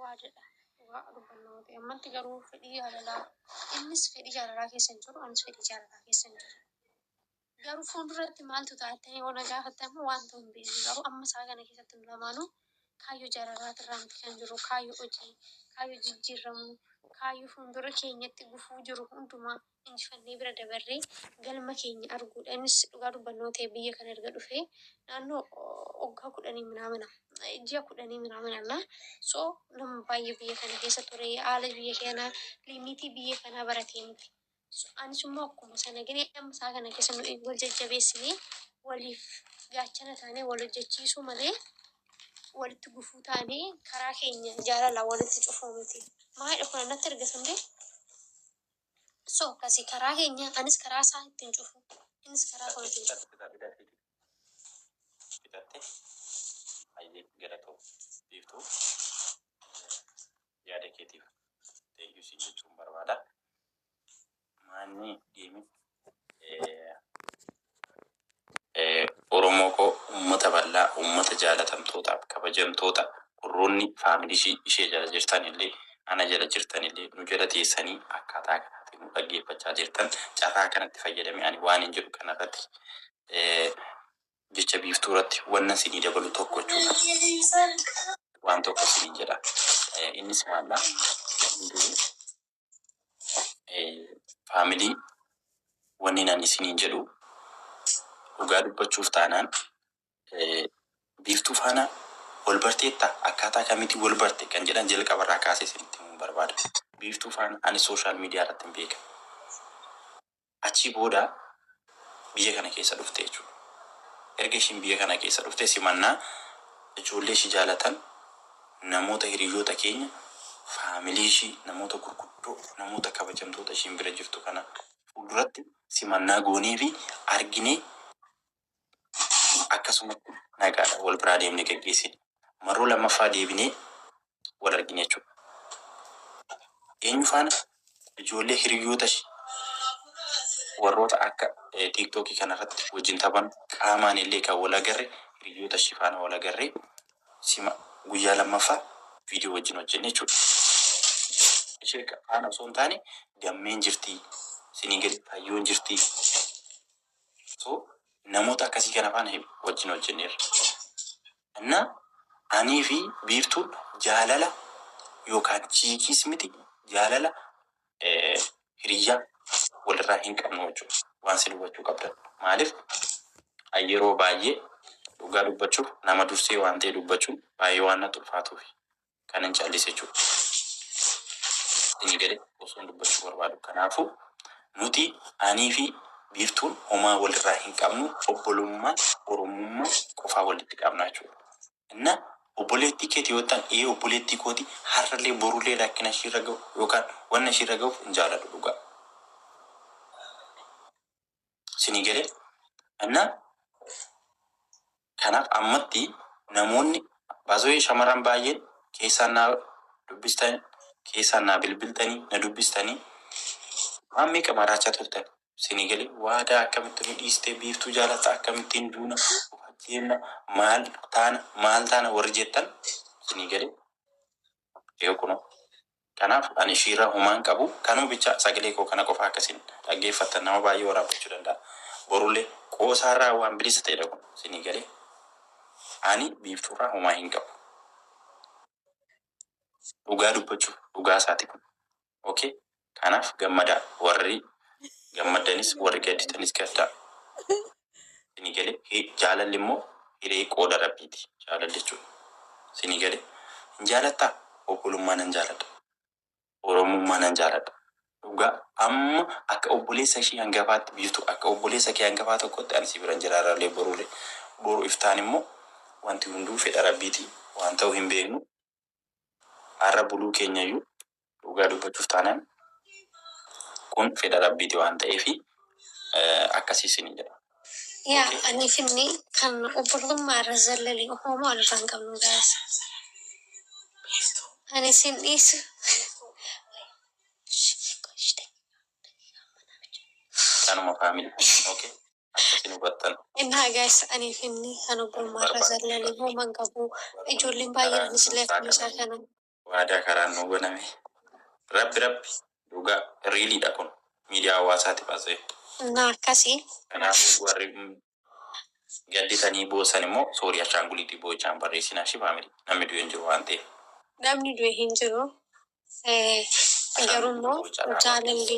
waa jedha dhugaa dubbanna yoo ta'e ammatti garuu fedhii jaalalaa innis fedhii jaalalaa keessa hin jiru anis fedhii jaalalaa keessa hin jiru garuu fuulduratti maaltu ta'a jettanii yoo na gaafatte ammoo wanta hin beekne garuu amma isaa kana keessatti nu lamaanuu kaayyoo jaalalaa irraa miti kan jiru kaayyoo hojii kaayyoo jijjiirramuu kaayyoo fuuldura keenyatti gufuu jiru hundumaa injifannee bira dabarree galma keenya arguudha. Innis dhugaa dubbannoo ta'ee biyya kana erga dhufee naannoo waggaa kudhanii minaamina ji'a kudhanii minaamina na so nama baay'ee biyya kana keessa ture haala biyya kanaa limiitii biyya kanaa baratee miti. So, Anis immoo akkuma sana gine amma isaa kana keessa nu wal jajjabeessinee waliif gaachana taanee wal hojjechiisuu malee walitti gufuu taanee karaa keenya jaalala walitti cufuu miti. Maayidha kun natti erga sundee So akkasi karaa keenya anis karaa isaa ittiin cufu innis karaa koo ittiin cufu. Bitatte kaa bidattee dide. Bitatte hayyee galatoo biiftuu yaada keetiif thank you siin jechuun barbaada. Maanni deemi Oromoo koo ummata bal'aa ummata jaalatamtootaaf kabajamtoota warroonni faamilisii ishee jala jirtan illee ana jala jirtan illee nu jala teessanii akkaataa kanaatiin nu dhaggeeffachaa jirtan carraa kanatti fayyadamee ani waanin jedhu kana irratti jecha biiftuu irratti wanna isinii dabalu tokko jechuudha waan tokko isiniin jedha innis maal dha hunduu Family wannin ani isiniin jedhu dhugaa dubbachuuf taanaan biiftuu faana wal barteetta akkaataa kamiitiin wal barte kan jedhan jalqaba irraa kaasee isinitti himuun barbaada biiftuu faana ani social media irratti hin beeka Achii booda biyya kana keessa dhufte jechuudha. Erga ishiin biyya kana keessa dhufte simannaa ijoollee ishii jaalatan, namoota hiriyyoota keenya, faamilii ishii, namoota gurguddoo, namoota kabajamtoota ishiin bira jirtu kana fuulduratti simannaa gooneefii arginee akkasumatti nagaadhaan wal biraa deemne gaggeessine. Marroo lammaffaa deebinee wal argine jechuudha. Eenyu faana? Ijoollee hiriyyootashi warroota akka TikTok kanarratti wajjin taphannu, qaamaanillee kan wal agarre hiriyyootashi faana wal agarree sima guyyaa lammaffaa viidiyoo wajjin hojjenne jechuudha. Ishee faana osoo hin taane, Gammeen jirti, Siniigalitti Hayyoon jirti. So namoota akkasii kana faana hedu wajjin hojjenneerra. Anna anii fi biiftuun jaalala yookaan chiikiis miti jaalala hiriyyaa walirraa hin qabnu jechuudha. Waan sirri hubachuu qabdan maaliif an yeroo baay'ee dhugaa dubbachuuf nama dursee waan ta'e dubbachuun baay'ee waan natti ulfaatuufi. Kanan callise jechuudha. Inni gale osoon dubbachuu barbaadu. Kanaafuu nuti aniifi Biiftuun homaa walirraa hin qabnu obbolummaa Oromummaa qofaa walitti qabna jechuudha. Innaa obboleettii keeti yoo jettan ee obboleettii kooti har'allee borullee rakkina ishiirra gahu yookaan wanna ishiirra gahuuf hin jaaladhu dhugaa. Isinii galee? Anna kanaaf ammatti namoonni baazawee shamarran baay'een keessaan naa dubbistan keessaan naa bilbiltanii na dubbistanii waan meeqa maraachaa turtan isinii galee? Waadaa akkamitti nu dhiistee biiftuu jaalatta akkamittiin duuna of ajjeefna maal taana maal taana warri jettan isinii galee? Yoo kuno. Kanaaf ani ishiirraa homaan qabu kanuu bichaa sagalee koo kana qofaa akka isin dhaggeeffattan nama baay'ee waraabbachuu danda'a borullee qoosaarraa waan bilisa ta'edha kun isinii galee ani biiftuurraa homaa hin qabu dhugaa dubbachuuf dhugaa isaati kun ok kanaf gammadaa warri gammaddanis warri gadditanis gaddaa sini gale jaalalli immo hiree qooda rabbiiti jaalalli jechun sini gale hin jaalattaa obbolummaa nan jaaladha oromummaa nan jaaladha dhugaa amma akka obboleessa ishii hangafaatti biiftu akka obboleessa kee hangafaa tokkotti ani si biran jira har'allee borule boru iftaan immo wanti hunduu fedha rabbiiti waan ta'u hin beeknu Har'a buluu keenyayyuu dhugaa dubbachuuf taanaan kun fedha Rabbiiti waan ta'eefi akkasi isiniin jedha. Yaa ani finni kan obbollummaa irra zallali hoomaa wal irraa hin qabnu guys ani sin dhiisu Tanuma family ok. Akkamitti nu hubattan? Innaa guys anii fi inni kan obbolummaa irra zallale hooma hin qabu ijoolleen baay'een isle akkuma isaa kana. Waadaa karaan nuu baname. Rabbi rabbi dhugaa really dha kun miidiyaa hawaasaatiif as a. Innaa akkasi. Kanaafuu warri gadditanii boossan immoo sorry ashaanguliitii boo'ichaa hin barreessinaa ishii family namni du'e hin jiru waan ta'eef. Namni du'e hin jiru garuu immoo jaalalli.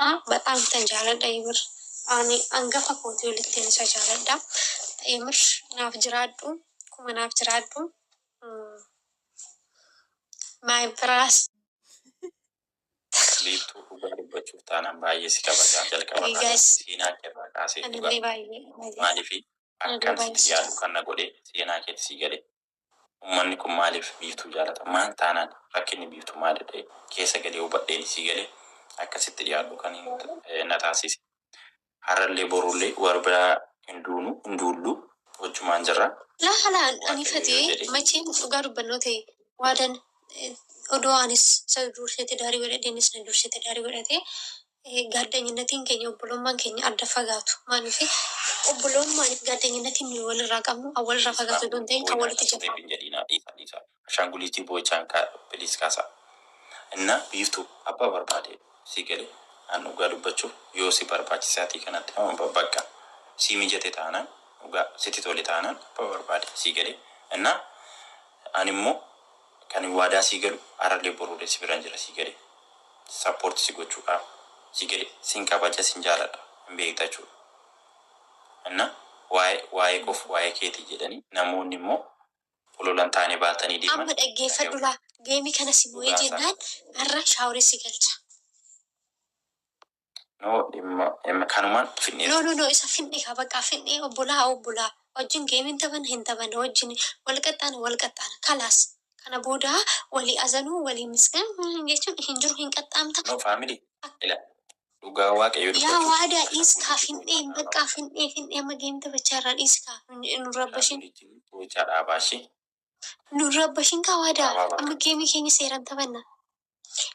Haa baxaam tan jaaladha yemir Ani angafa kooti olittin isa jaaladha yemir naaf jiraadhu kuma naaf jiraadhu my bras. Biiftuu dhugaa dubbachuuf taanaan baay'ee si kabaja jalqaba irraa kaasee seenaa kee irraa kaasee dhugaa maaliif akkan sitti yaadu kan na godhe seenaa keeti sii gale Ummanni kun maaliif Biiftuu jaalata? Maal taanaan rakkinni Biiftuu maalidha? Keessa galee hubadheen isii galee akka sitti dhiyaadhu kan na taasise. Harrallee borullee wal biraa hin duunu, hin duullu. Wajjumaan jirra. Laa halaan ani fatiyee macheem dhugaa dubbannoo ta'e waadan odoo anis isa dursee tidaarii godhadhee innis na dursee tidaarii godhatee Gaaddanyinnatiin keenya obbolummaan keenya adda fagaatu maaliifi? Obbolummaan fi gaaddanyinnatiin nuyi walirraa qabnu kan walirraa fagaatu utuu hin ta'in kan walitti jabaatu. Boo'inaa dhiisii hin jedhiinaa dhiisaa dhiisaa ashaanguliitii boochaan kaa please kaasaa innaa biiftuu abbaa barbaade sii galee an dhugaa dubbachuuf yoo si barbaachise atii kanatti nama baqqa sii mijate taanaan dhugaa sitti tole taanaan abbaa barbaade sii galee innaa an immoo Kanin waadaa sii galu arallee borullee si biran jira sii galee support si gochuudhaaf sii galee sin kabaja sin jaaladha hin beekta jechuudha inna waa'ee waa'ee koof waa'ee keetii jedhani namoonni immoo ololan taane baatanii deeman Amma dhaggeeffadhu dhaga'u laa. Game kana si mo'ee dhugaa isaa. jennaan har'a shower si galcha. No dhimma M kanuman fidhni. No no no isa fidhni ka baqa fidhni obbolaa obbolaa wajjin game hin taphana hin taphana wajjin wal qaxxaana wal qaxxaana kalaas kana booda walii azanuu walii misgan jechuun hin jiru hin qaxxaamta. No family ila dhugaa waaqayyoo dubbachuuf. Yaa waadaa dhiisi kaa fidhni baqqaa fidhni fidhni amma game taphachaa irraa dhiisi kaa nu hin rabbashin. Family jin bochaa dhaabaa ishii. Nun rabbashin kaa waadaa amma geemii keenya seeran taphanna.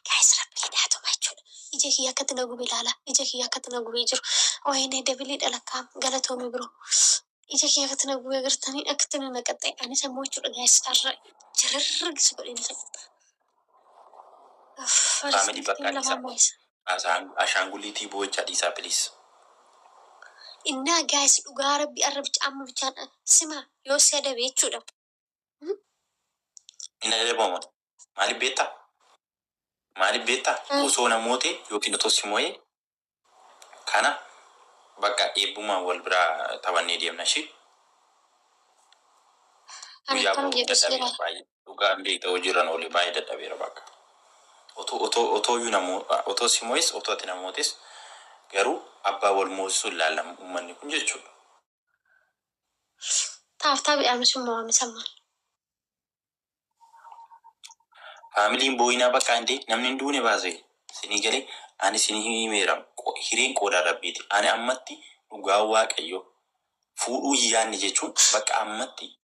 Guys rabbi jedhaa tuma jechuudha. Ija kiyya akkatti na gube ilaala. Ija kiyya akkatti na gubee jiru. Wayne dabilii dhalakkaam galatoomi bro. Ija kiyya akkatti na gube agartanii akkatti na naqaxxe anis ammoo jechuudha guys har'a jirarragisi godheen fedha. Uff, Faamilii bakka Faamilii Addisaa. lamaan moo'isa. Ashaanguliitii boo'ichaa dhiisaa please. Innaa guys dhugaa rabbi arrab caamma bichaan sima yoo si adabe jechuudha. Hin adabama moti maalif beetta maalif beetta osoo na moote yookiin otoo si moye kana bakka eebbumaan wal bira taphannee deemna ishii Ani guyyaa akkam boo'u jedhu dadhabeera seera. baay'ee. Dhugaa hin beekta hojii irran oole baay'ee dadhabeera bakka otoo otoo otoo iyyuu na mo otoo si mo'es otoo ati na mootes garuu abbaa wal moosisu hin laallamu ummanni kun jechuudha. Taaf taabi aamisu mo'ame san maal. Family hin booyinaa baqaa indee namni hin duune baasee sinii galee ani sinii himeera qo hireen qoodaan rabbiiti ani ammatti dhugaa waaqayyoo fuudhuu hin yaanne jechuun bakka ammatti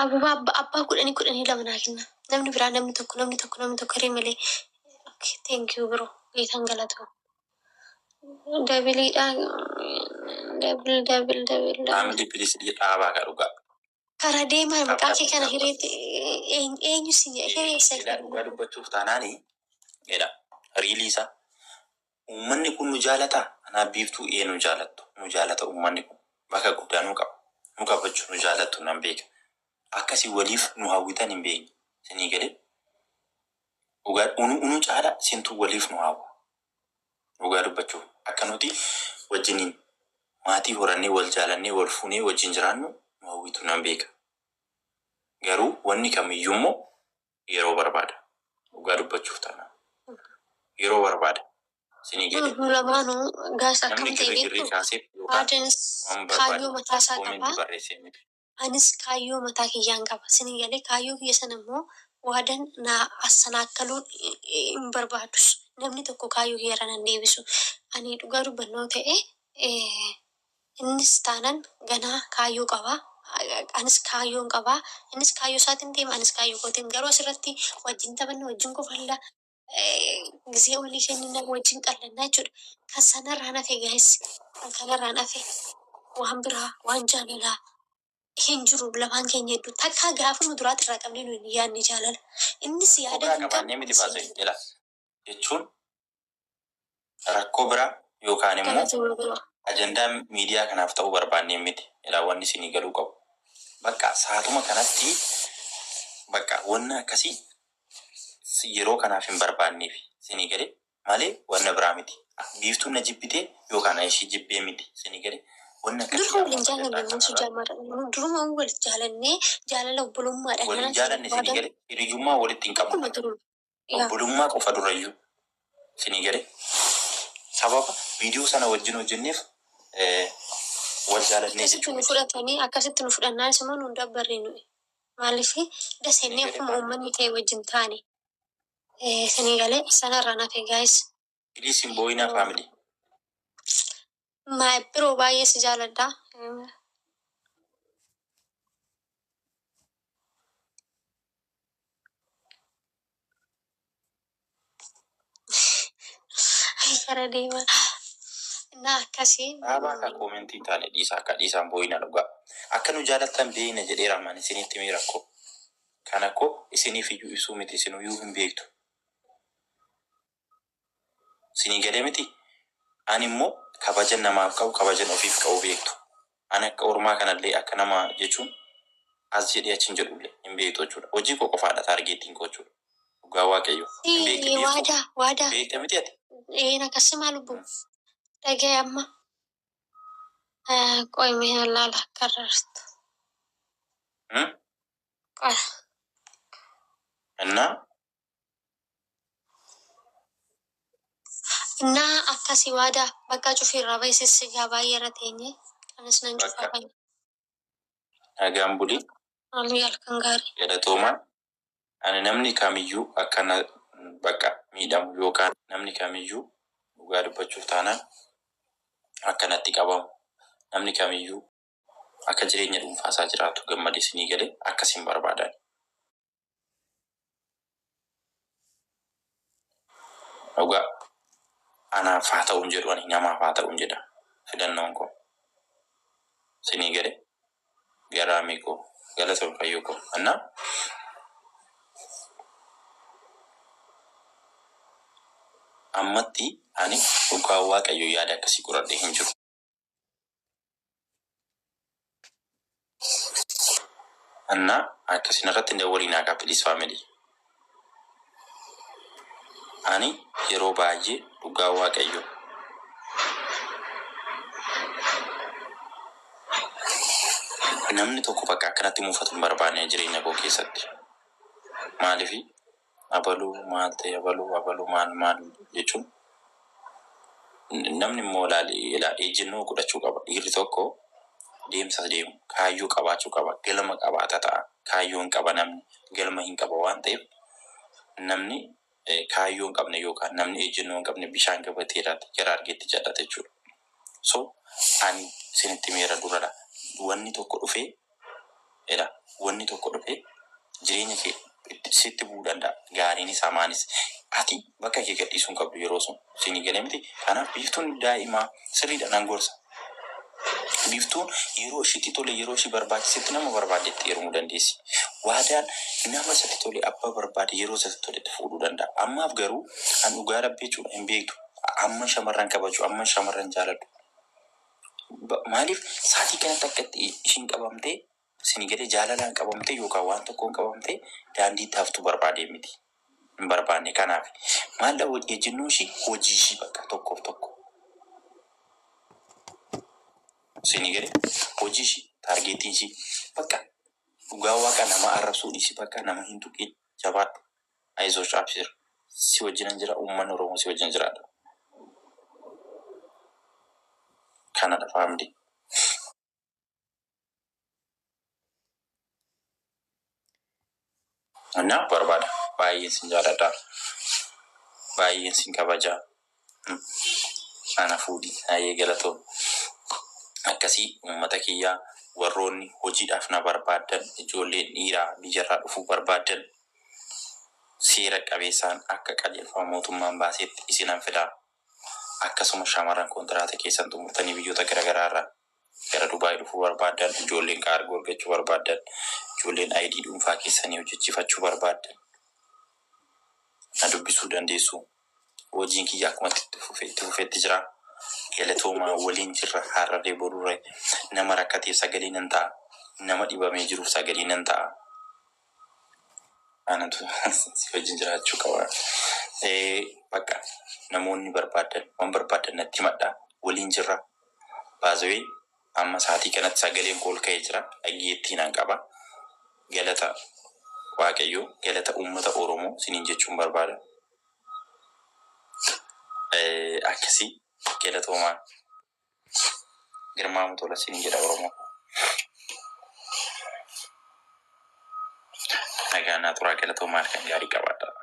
Ababa abba abbaa kudhanii kudhanii lama naa kenna namni biraa namni tokko namni tokko namni tokko hiree malee okay thank you bro geetan galatoo dabiliidha dabil dabil dabil dabil Amdi please dhii dhaabaa ka dhugaa. kara deemaa maqaa kee kana hireetti eenyu eenyu si jedhe hiree isa Ila dhugaa dubbachuuf taanaani jedha riilii isaa Uummanni kun nu jaalataa? Anaaf Biiftuu ee nu jaalattu. Nu jaalata uummanni kun. Bakka guddaa nu qaba. Nu kabaju, nu jaalattu nan beeka. Akka isin waliif nu hawwitan hin beekne. Isinii galee? Dhugaadha. Unu unu caala isintu waliif nu hawwa. Dhugaa dubbachuuf akka nuti wajjiniin maatii horannee, wal jaalannee, wal fuunee wajjin jiraannu nu hawwitu nan beeka. Garuu wanni kamiyyuummoo yeroo barbaada dhugaa dubbachuuf taanaan yeroo barbaada sinii galee Nuuf lamaanu gaas namni akkam ta'e girrigirrii beektu kaaseef yookaan Aadens waan kaayyoo barbaade mataa isaa qaba. koomentii barreessee miti. Anis kaayyoo mataa kiyyaan qaba. Sinii galee kaayyoo kiyya sana immoo waadan na assanaakkaluu hin barbaadus. Namni tokko kaayyoo kiyya irra nan deebisu. Ani dhugaa dubbannoo ta'e Innis taanaan ganaa kaayyoo qaba. Anis kaayyoon qaba. Innis kaayyoo isaatiin deema, anis kaayyoo kootiin. Garuu asirratti wajjin taphanna, wajjin kofalla, gizee walii kennina, wajjin qallanna jechuudha. Kan sanarraan hafe guys, kan kanarraan hafe waan biraa, waan jaalalaa hin jiru lamaan keenya gidduu. Takkaa gaafa nu duraati irraa qabnee nu hin yaadne jaalala. Innis yaada Ofirraa hin qabu, qabaannee miti anis hin baase. yaadu. Ila. jechuun rakkoo biraa yookaan immoo ajandaa miidiyaa kanaaf ta'uu barbaannee miti. Ilaa wanni isinii galuu qabu baqqaa saatuma kanatti baqqaa wanna akkasii yeroo kanaaf hin barbaanneef isinii galee malee wanna biraa miti. Biiftuun na jibbitee yookaan an ishii jibbee miti isinii galee wanna akkasii Duruma waliin jaalanne ajandaa nuti kanarraa jaamaadha. Duruma wal jaalannee jaalala obbolummaadha. waliin jaalanne isinii galee hiriyyummaa walitti hin qabnu. Akkuma duruma. obbolummaa qofa durayyuu isinii galee sababa video sana wajjin hojjenneef wal jaalannee Akkasitti nu jechuun miti. fudhatanii akkasitti nu fudhannaanis immoo nu hin dabbarre nuyi. Maaliif das jennee akkuma uummanni ta'e wajjin taane. Isinii galee sanarraan hafe guys. Please hin boo'inaa family. My bro baay'ee si jaaladha. Gara deema. Na akkasii. Dhaabaa akka koomentii hin taane dhiisa akka dhiisaan boo'ina dhugaa. Akka nu jaalattan beeyna jedhee raamaan isinitti mee rakkoo. Kana koo isiniif iyyuu ibsuu miti isinuu iyyuu hin beektu. Sinii galee miti? Ani immoo kabajan namaaf qabu kabajan ofiif qabu beektu. Ani akka ormaa kana illee akka nama jechuun as jedhee achi hin jedhu illee. Hin beektu jechuu dha. Hojii koo qofaa dha taargeettiin koo jechuu dha. Dhugaa Waaqayyoo. Hin beektu Ee, biiftuu. waadaa, Hin waadaa. beekta miti ati? Ee, na kassimaa lubbu. Dhaga'i amma. Eh, Qo'i mee nan laala akka arrarstu. Hmm? Qo'i. Innaa Naa akkasi waada bakka cufi irraa bahi sissi gaa baay'ee irra teenye anis nan cufaa bahi. Nagaan buli. Maalii halkan gaarii. Galatoomaa ani namni kamiyyuu akka na bakka miidhamu yookaan namni kamiyyuu dhugaa dubbachuuf taanaan akka natti qabamu namni kamiyyuu. Akka jireenya dhuunfaa isaa jiraatu gammade isinii gale akkas hin barbaadani. Dhugaa anaaf haa ta'u hin jedhu ani namaaf haa ta'u jedha filannoon koo. Isinii gale garaamii koo galatoomi fayyoo koo anna. Ammatti ani dhugaa waaqayyoo yaada akkasii qoradhee hin jiru. እና akkasiin irratti hin dawwaliin haqa please family ani yeroo baay'ee dhugaa waaqayyo namni tokko bakka akkanatti muufatu hin barbaanne jireenya koo keessatti maaliif abaluu maal ta'e abaluu abaluu maal maal jechuun namni immoo ilaa ejjennoo godhachuu qaba dhiirri tokko deemsa deemu kaayyoo qabaachuu qaba galma qabaata ta'a kaayyoon qaba namni galma hin qaba waan ta'eef namni kaayyoon qabne yookaan namni ejjennoo hin qabne bishaan gabatee irratti gara argeetti jal'ata jechuudha so ani isinitti meera duradha wanni tokko dhufee Ila wanni tokko dhufee jireenya kee itti sitti bu'uu danda'a. Gaariinis hamaanis. Ati bakka kee gadhiisuu hin qabdu yeroo sun. Siinii galee miti? Kanaaf Biiftuun daa'ima. Sirriidha nan gorsa. Biiftuun yeroo ishiitti tole yeroo ishii barbaachisetti nama barbaaddetti heerumuu dandeessi. Waadaan nama isatti tole abbaa barbaade yeroo isatti toletti fuudhuu danda'a. Ammaaf garuu an dhugaa Rabbii jechuudha hin beektu amman shamarran kabaju amman shamarran jaaladhu. Maaliif saatii kanatti akka itti ishiin qabamtee isinii galee jaalalaan qabamtee yookaan waan tokkoon qabamtee daandiitti haftu barbaadee miti. Hin barbaanne kanaafi. Maaldha ejjennoo ishii hojii ishii bakka tokkoof tokko. Isinii galee hojii ishii taargeettiin ishii bakka dhugaa waaqa nama arrabsuu dhiisi bakka nama hin tuqiin jabaadhu. Ayizosh abshir si wajjinan jira ummanni oromoo si wajjin jiraadha Canada family. Naf barbaada baay'een sin jaaladha baay'een sin kabaja Ana fuudhi. Hayyee galatoomi. Akkasii uummata kiyya warroonni hojiidhaaf na barbaaddan ijoolleen dhiiraa biyyarraa dhufuu barbaaddan seera qabeessaan akka qajeelfama mootummaan baaseetti isinan fida. Akkasuma shamarran kontiraata keessan xumurtanii biyyoota garagaraarraa Gara Dubai dhufuu barbaaddan, ijoolleen kaargoo ergachuu barbaaddan, ijoolleen ID dhuunfaa keessanii hojjechiifachuu barbaaddan na dubbisuu dandeessu. Hojiin kiyya akkuma itti fufe itti fufetti jira. Galatoomaa waliin jirra har'arree borurre. Nama rakkateef sagalee nan ta'a. Nama dhibamee jiruuf sagalee nan ta'a. Anatu si wajjin jiraachuu qaba. Ee, Bakka namoonni barbaaddan waan barbaaddan natti himadhaa. Waliin jirra. By the way amma saatii kanatti sagaleen koo ol ka'ee jira dhaggeettiinan qaba galata waaqayyoo galata uummata oromoo siniin jechuun barbaada akkasi galatoomaa Girmaamu Tola siniin jedha oromoo koo nagaan naa turaa galatoomaa halkan gaarii qabaadhaa.